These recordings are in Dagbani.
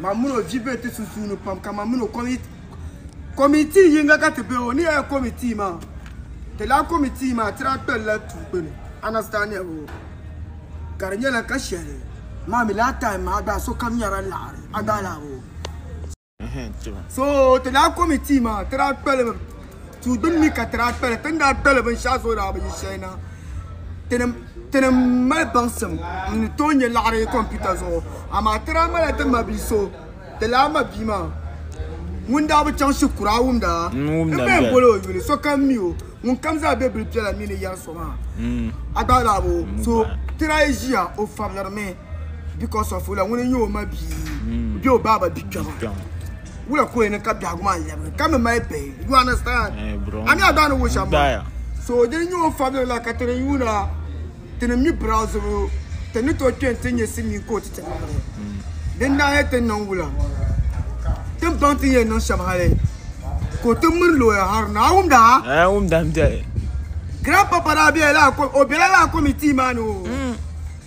Man mini o vi be ti sunsuuni pam ka man mini o komitii yiŋga ka ti be o ni yɛli komitii maa ti laa komitii maa ti daa kpɛli la tuu gbuni understanding o ka di nyɛla ka shɛli maa mi laa time maa gba sokam nyɛla laɣiri a gbaala o so ti laa komitii maa ti daa kpɛli duu gbuni mi ka ti daa kpali ti ni daa kpali binshɛɣu zuɣu daa bi yi shɛli na ti ni mali baŋsim n ni tooi nyɛ laɣiri kompiwta zuɣu amaa ti daa malila ti mabia so di lala mabia maa ŋun daa bi chaŋ shikuru a wumda n mi yɛn boli o yuli sokam mi o ŋunkam zaa be bili piɛla mi ni yɛri so maa a gbaai lala bi o so ti daa yi ʒiya o fabirimi because of wula ŋuni n-nyɛ o mabia bee o baaba bia kpɛma. Wula ko ni ka biɛhigu maa lɛbigi ka mi mali bihi. You understand? Eh, bro. Ani a daa ni wucha ma. So din nyɛ o fabili la ka ti ni yuuna ti ni mi birazibu ti ni to kpɛn ti nyɛ Silimiin Kooti ti niŋdi. Din daa nyɛ tin niŋ Wula tin baŋ ti ni yɛn niŋ shɛm hali ka o ti miri looya hara ni. A wumda? Eh, n wumda m-biɛhi. Grandpapa daa bela lala o bela lala committee maa ni o.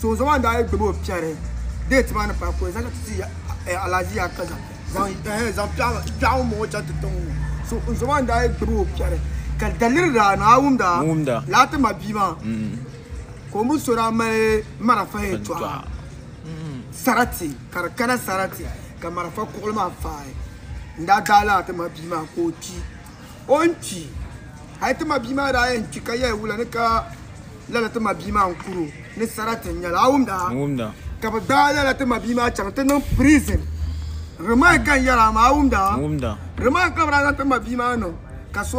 Sonsoŋ maa daa yi gbibi o fiɛri deeti maa ni paai ka o zaŋ ti ti Alhaji Yakaza zaŋ kpɛɣu mɔŋ o chaŋ ti tiŋ ŋɔ. Sonsoŋ maa daa yi gbibi o fiɛri ka daliri daa ni a wumda laa ti ma bia maa ka o mini so daa mali marafa yɛn tɔha sarati ka di kana sarati ka marafa kuɣili maa faai n-daa daai laa ti ma bia maa ka o kpi. o ni kpi hali ti ma bia maa daa yɛn kpi ka yahi wula ni ka lala ti ma bia maa n kuro ni sarati n nyɛli a wumda ka bi gbaai lala ti ma bia maa chaŋ ti niŋ prison remand ka n yɛli a maa a wumda remand ka bi daa zaŋ ti ma bia maa niŋ ka so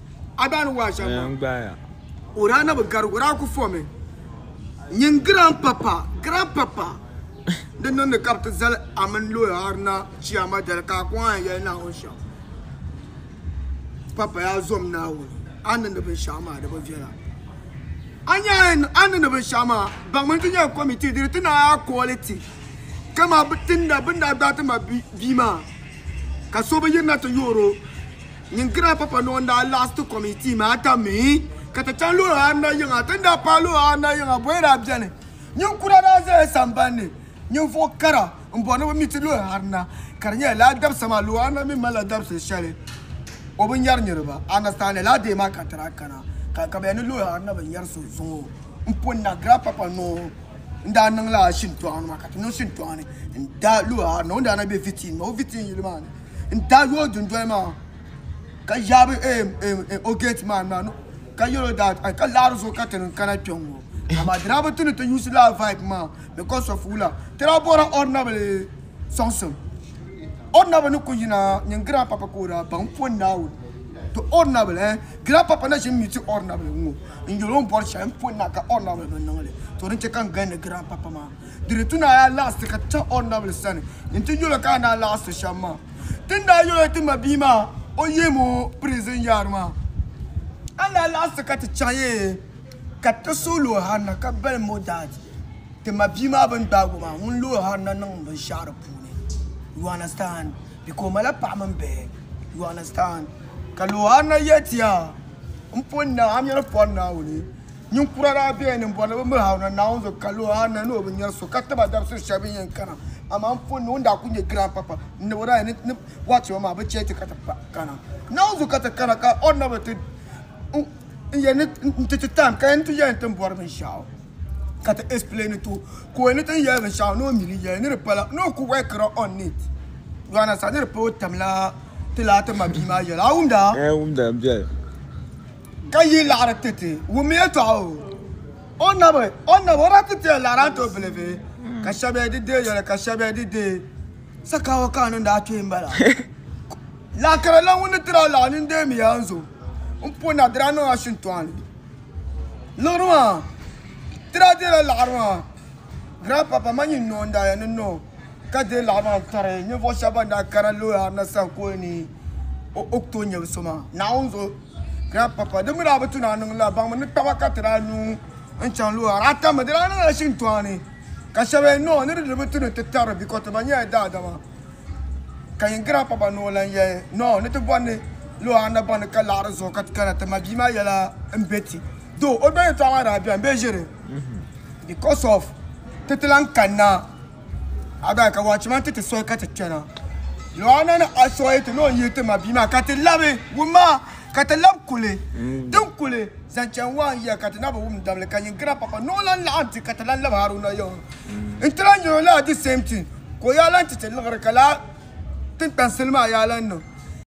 Aban waa shɛŋa maa gbaaya. O daa na bi gari o daa ku fɔmi nyin grand papa grand papa di niŋdi ka bi ti zali a mini lawyer Haruna Chiama dali ka a kɔŋ a ni yɛli Naawuni shɛm papa yaa zom Naawuni a ni niŋdi binshɛɣu maa di bi viɛla a nya a ni niŋdi binshɛɣu maa baŋmi n ti nyɛ committee diri ti naai a kooli ti ka maa bi tinda bin daa gbaai ti ma bia maa ka so bi yirina ti yoor o Ninkira Papa Nɔɔ n-daa laɣis ti kɔmitii maa ka mi ka ti chaŋ luɣ anahi yiŋa. Ti ni daa paai luɣ anahi yiŋa, bɔya daa beni. Ninkura daa zaya samban ni. Ninvuɣ kara m-bɔri ni bɛ mi ti luɣ arina, ka di nyɛla lala dabisa maa luɣ arina mi malila dabisili shɛli o bi nyari niriba. Anastaa ni lala deei maa ka ti daa kana, ka ka bɛ yɛli ni luɣ arina bi nyari so zuŋ o. M pun Nagira Papa Nɔɔ n-daa niŋ lala shintɔɣu ni maa, ka ti niŋ shintɔɣu ni n-daai luɣ arina. O ni daa na be Vitiin maa, o Vitiin yili maa ni. n daa yooi dundoli maa ka yaabi o geet man maa ka yɛl o that ka laɣiri zuɣu ka ti ni kana kpɛŋ ŋɔ amaa di daa bi ti ni ti yuusi laa vibe maa because of wula ti daa bɔhiri ordinably sɔŋsim ordinably ni ku yina nyin grandpapa ka o daa baŋ pɔ Naawuni to ordinably eh grandpapa na ʒi m-miti ordinably ŋɔ n yɛl o m bɔri shɛli m pɔ naa ka ordinably bi niŋ li to din chɛ ka n gindi grandpapa maa Di ni ti naai laɣisi ka ti chaŋ o nabili sani nti yɛl o ka a naai laɣisi shɛm maa. Ti ni daa yɛl o ti ma bia maa o yihim o prizin yaari maa, a naai laɣisi ka ti chaŋ ya ka ti suhil o Hanna ka balim o daadi ti ma bia maa bɛ ni gbaag o maa ŋun looi Hanna niŋ binshɛɣu di puuni. You understand? Bika o malila paɣa mini bihi. You understand? Ka looi Hanna yɛl ti ya, M poni naa, a mi ni pɔri Naawuni. Ninkura daa bɛya ni m-bɔri ni bɛ miri Haruna Naawuni zuɣu ka lo a na ni o bi nyari so ka tib a dabisili shɛli bɛ yɛn kana. Amaa m pun ni o ni daa kul nyɛ grandpapa n-nab o daa yɛn ni bɔhi ti ma maa bɛ chɛ ti ka ti kana Naawuni zuɣu ka ti kana ka o nab ti n yɛn ni n-ti ti time ka yɛn ni ti yɛli ni ti ni bɔri binshɛɣu ka ti explaini ti o ka o yɛn ni ti ni yɛli binshɛɣu ni o mi li yɛli ni di pala ni o kul workira on it you understand ni di pala o tamla ti laati mabia maa yɛla a wumda? N wumda m-biɛli. Ka yi laɣiri ti ti wum yɛtɔɣa o, O nabi, O nabi, o daa ti tiya laɣiri a too bilivi, ka shɛb ya di deei yoli, ka shɛb ya di deei. Sakaawa ka a niŋdi a kpee m-bala. Laakara la ŋun ni tiri a laɣiri nini deemi ya n zo m puuni na di daa niŋ a shintɔɣu ni. Liɣiri maa, ti daa deela laɣiri maa, Grandpapa ma nyin noo n-daa ya ni noo ka deei laɣiri maa n-tɔri ninvuɣ shɛb bɛn daa kana Looyaɣiri na saha ka o ni o ku tooi nyɛbu so maa. Naawuni zo. Grandpapa, di mi daa bi tu ni a niŋ la baŋmi ni taba ka ti daa lu n chaŋ luɣa daa tammi di daa niŋla shintoani ka shɛba yɛli noo ni di di bi tu ni ti tarri biko ti ba nyɛla daadama ka yin grandpapa noo lan yɛli noo ni ti bɔri ni luɣa a na baŋni ka laɣiri zuɣu ka ti kana ti ma bia maa yɛla n be ti doo o doli yɛtɔɣa maa daa bɛni bee ʒiri because of ti ti lan kanna A daa ka wɔchiman ti ti sɔhi ka ti kpɛna. Luɣana ni a sɔhi ti ni o yihi ti ma bia maa ka ti labi wum maa ka ti lab kuli din kuli zaŋ chani waan yiya ka ti na bi wum dabili ka yiŋgina papa ni o lan laɣim di ka ti lan lab Haruna yiɣiri nti lan nyɛ o laa the same thing ka o yaa lan ti ti liɣiri ka laa tiŋkpansil maa yaa lan niŋ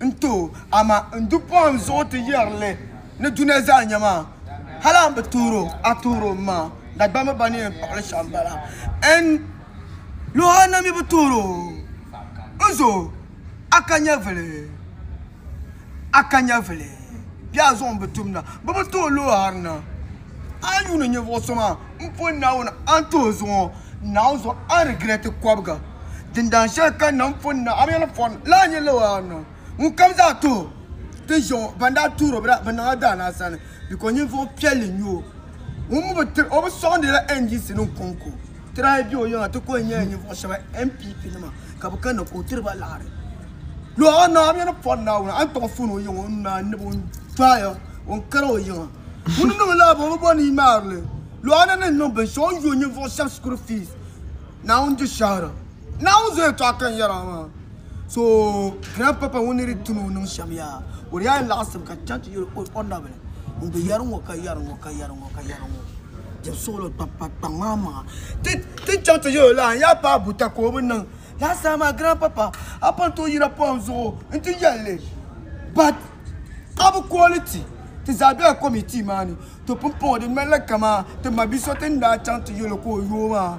N-ti o, amaa n du pɔhim zuɣu ti yɛri li ni dunia zaa nya maa. Hal a ni bi tuur o, a tuur o m-ma Dagbamba ba ni yɛn kpuɣi li shɛm bala. N luhi a na mi bi tuur o. N zo, a ka nyɛvili, a ka nyɛvili. Bɛ a zuɣu m-bi tum na. Bɛ bi ti o luhi harina. A ni yuuni ninvuɣ so maa m pun Naawuni antooi zuŋɔ, Naawuni zuɣu a ni girɛti kɔbiga. Dindaan shɛli ka nam pun niŋ a mini pɔri lan nyɛ lala a ni niŋ. Ŋunkam zaa tuhi ti ʒiɛm o, bɛn daa tuur o bɛ daa bi niŋ a daa ni a sani, bikɔ ninvuɣ piɛlli n-nyɛ o. Ŋun mi bi tiri o bi sɔŋdila NDCnim kɔŋko, ti daa be o yiŋa ti kuli nyɛla ninvuɣ shɛba NPPnima ka bi kanna ka o tiri ba liɣiri. Luɣ a ni niŋ a mini pɔri Naawuni antooi fuuni o yiŋa o ni daa ni bi o n-dɔɣi ya o n-kari o yiŋa. Ŋuni niŋ la bɔŋɔ bɔ ni ŋmaarili lɔɣani ni niŋ binshɛɣu n-yo ninvuɣu shɛba shikuru fees Naawuni di shɛhira. Naawuni zo yɛtɔɣa ka n yɛra maa. So grand papa ŋuni ni di ti ni o niŋ shɛm yaa o di yaa ni laɣisiri ka chaŋ ti yɛli o nabili n di yɛri ŋɔ ka yɛri ŋɔ ka yɛri ŋɔ ka yɛri ŋɔ jɛbi suɣili kpa kpa kpa ŋmaa maŋa tin chaŋ ti yɛli o la n yaa paai buta ka o bi niŋ laasabu maa grand papa a pun tooi yira pɔhim zuɣu n ti yɛli li but ka bi kooli ti ti zaa bela komitii maa ni to pumpɔŋɔ di ŋmanila kamaa ti ma bi so ti ni daa chaŋ ti yolo ka o yoo maa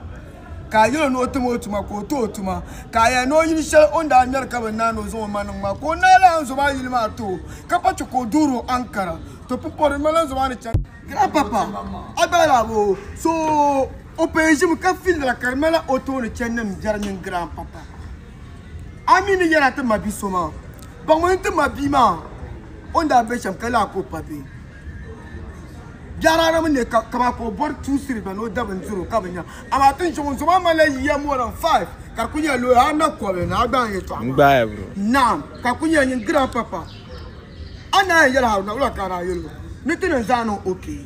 ka a yolo ni o tim o tuma ka o to o tuma ka a yɛli ni o yili shɛli o ni daa ŋmɛri ka bi naai ni o zaŋ o ma niŋ maa ka o naai lahi n zoma yili maa too ka pa chɛ ka o duuri o ankara to pumpɔŋɔ di ŋmanila n zoma ni chani Grandpapa Agbalaabo so o paya ʒimi ka filira ka di ŋmanila o tooni chani ni m biɛri mini Grandpapa. a mi ni yɛla ti ma bi so maa ba ŋuni ti ma bia maa o ni daa be shɛm ka lahi ka o pa bee biɛrana mi ne ka ma ka o bɔri tuusiri ba ni o da bindiro ka bi nya amaa ti zuɣu zuɣu maa malila yiya mɔlin five ka ku nyɛ looya a na kɔbi ni a gbaai yɛtɔɣa naam ka ku nyɛ nyin giran papa a na yɛn yɛli haruna wula ka a daa yɛli o ni ti ni zaa niŋ okee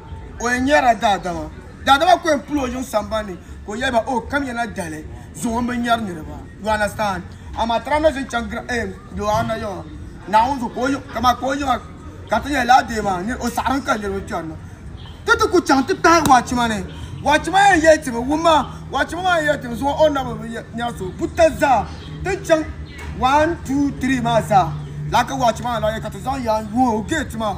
O yɛn nyɛrila daadama. Daadama ku yɛn pili o yiŋ sambani ni ka o yɛli ba, Oh, kamya na dali zuŋɔ m-bi nyɛri niriba. You understand? Amaa tirahi na ʒin chaŋ gira eem di o ana yiŋa Naawuni zuɣu ka o yiŋ ka maa ka o yiŋa ka ti nyɛli lala deei maa ni o saɣilim ka niriba kpɛri na. Ti ti ku chaŋ ti kpahi Wachima ni. Wachima yɛn yɛli ti mi, Wum ma, Wachima maa yɛn yɛli ti mi zuŋɔ o nabi bi nyɛri so. Buta zaa ti ni chaŋ one, two, three maa zaa lala ka Wachima maa lahi yɛli ka ti zaŋ yaan yuun o gate maa.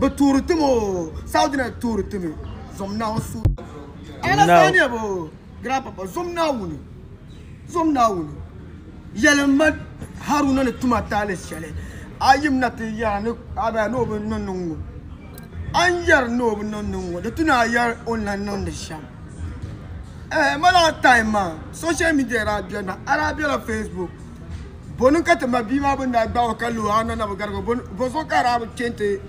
Bɛ tuuri tim o, Saudi na tuuri timi zom Naawuni suhudoo zuɣu. Alasaaniya bɛ o, Grandpapa, zom Naawuni, zom Naawuni. Yɛli m ma Haruna ni tum a taali shɛli a yim na ti yɛra ni a daa ni o bi niŋ niŋ ŋɔ. A ni yɛri ni o bi niŋ niŋ ŋɔ, di ti ni a yɛri o ni lan niŋ di shɛm. Ɛɛh, ma last time maa, social media daa beni na, a daa bela Facebook. Boni ka ti ma bia maa bini daa gbaag o ka lo a na na bi garig o? Bɔzuɣu ka a daa bi chɛ nti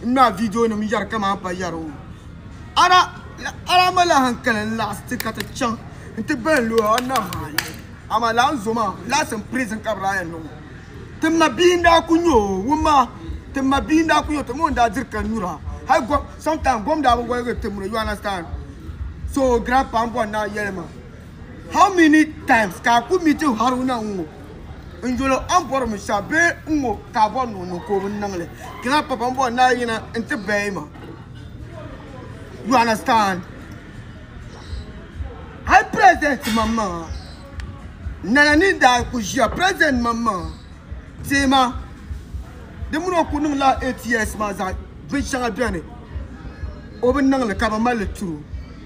ŋmaai viidionima yɛri kaman pa yɛri o? A daa malila hankali n-laɣis ti ka ti chaŋ nti bahi lo a na maa yɛli. Amaa lala n-zo maa, laɣis n prison ka bɛ daa yɛn niŋ o. Ti ma bia n-daa ku nyɛ o, wum ma, ti ma bia n-daa ku nyɛ o, ti ma o n-daa diri ka nyura. Hal gom, sometimes gom daa bi woligi ti mini o, you understand? So o grandpa m-bɔri na yɛli ma, How many times ka a ku meeti Haruna ŋ-ŋɔ n yolo a ni bɔri mi shɛm bee n-ŋɔ ka a bɔri ni o niŋ ka o bi niŋ li? Can I papa m-bɔri ni a yina n-ti bahi ma? You understand? Hali president maŋmaŋa Nana ni daa ku ʒiya president maŋmaŋa teei ma di mini o ku niŋ la eight years maa zaa binshɛŋa beni o bi niŋ li ka bɛ mali li tiri o.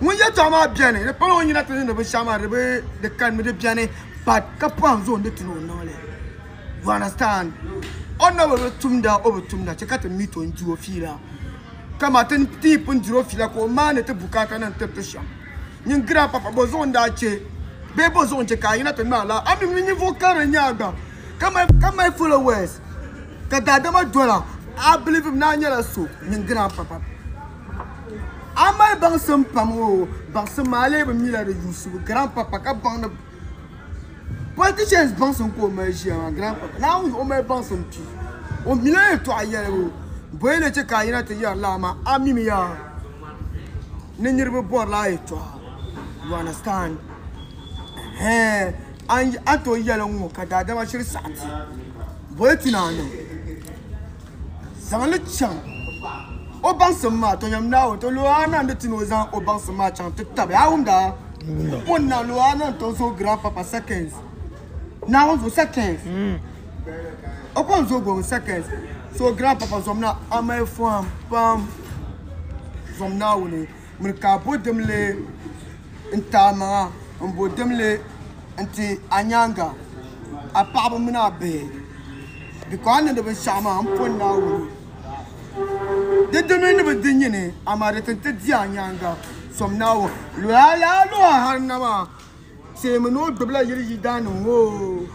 Ŋun yɛltɔɣa maa bɛni di pala o nyina ti niŋdi binshɛɣu maa di bi di kani mi di bɛni but ka pɔhim zuɣu n di ti ni o niŋli you understand o ni na bi tumda o bi tumda chɛ ka ti meet o n di o fiila ka maa ti yi pun diri o fiila ka o maani ti bukaata nim tiri ti shɛm nyin grand papa bɔ zuɣu n daa chɛ bee bɔ zuɣu n chɛ ka a yina ti ŋmɛ alaha a mi mi ninvuɣu karili n nyɛ a gba ka mali ka mali followers ka daadama dɔla a believe mi ni a nyɛla so nyin grand papa A mali baŋsim pam o baŋsim maa lee bi mila di yuusibu grandpapa ka baŋ ni politicians baŋsim ka o mali ʒiya maa grandpapa naawuni zuɣu o mali baŋsim pii o mila yɛltɔɣa yɛlibu bɔyɛ ni chɛ ka a yina ti yɛri laa maa a mimiya ni niriba bɔri laa yɛltɔɣa you understand ɛhɛn an an tooi yɛli n ŋɔ ka daadama shiri saɣiti bɔyɛ ti ni a niŋ Zaŋ li chaŋ o baŋsim maa, Tɔnyam Naawuni ti lo a na ni ti ni o zaŋ o baŋsim maa chaŋ ti tabi a wumdaa. O ni na lo a na n-tɔŋ zooi gram papa seconds, Naawuni zuɣu seconds, o kɔŋ zooi gɔŋ seconds, so gram papa zom na a mali fɔhim pam zom Naawuni. Miri ka bo dimli n-ti a maŋa, m-bo dimli n-ti a nyaaŋa, a paɣiba mini a bihi, biko a ni di binshɛɣu maa, m poni Naawuni. Di di mi ni bi di nyini, amaa di ti ni ti di a nyaaŋa, som Naawuni. Teemi ni o gbibila yili yidaannim ŋɔ oo,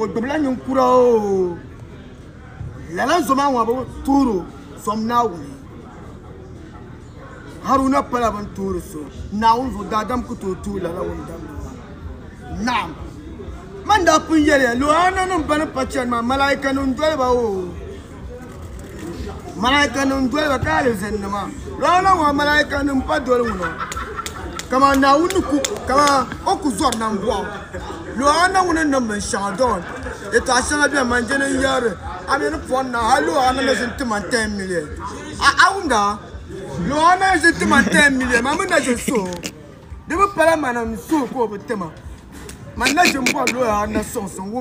o gbibila ninkura oo, lala zo maa ŋɔ bi tuhir o sɔŋ Naawuni. Haruna pala bɛn tuhiri so Naawuni zuɣu, daadam ku tooi tuhi lala ŋun dabigi maa. Naɣim! Man daa pun yɛliya, Luɣiaannanim bɛn pa chani maa, Malaaikanim doli ba oo. Malaika nim doli ba ka alizan nima lɔɔna ŋɔ malaika nim pa doli ŋuna kama naawuni ku kama o ku zɔri na bɔɣu lɔɔna ŋuna niŋ bin shɛŋa dɔn yɛtɔɣa shɛŋa bɛni man jɛli n yɛri a mi ni pɔri na hali lɔɔna na zini ti man ten miliɛn a a wumda lɔɔna n zini ti man ten miliɛn man mi na zini so di mi pala man n so ka o bi ti ma man na zini bɔri lɔɔna suŋ suŋ wumda.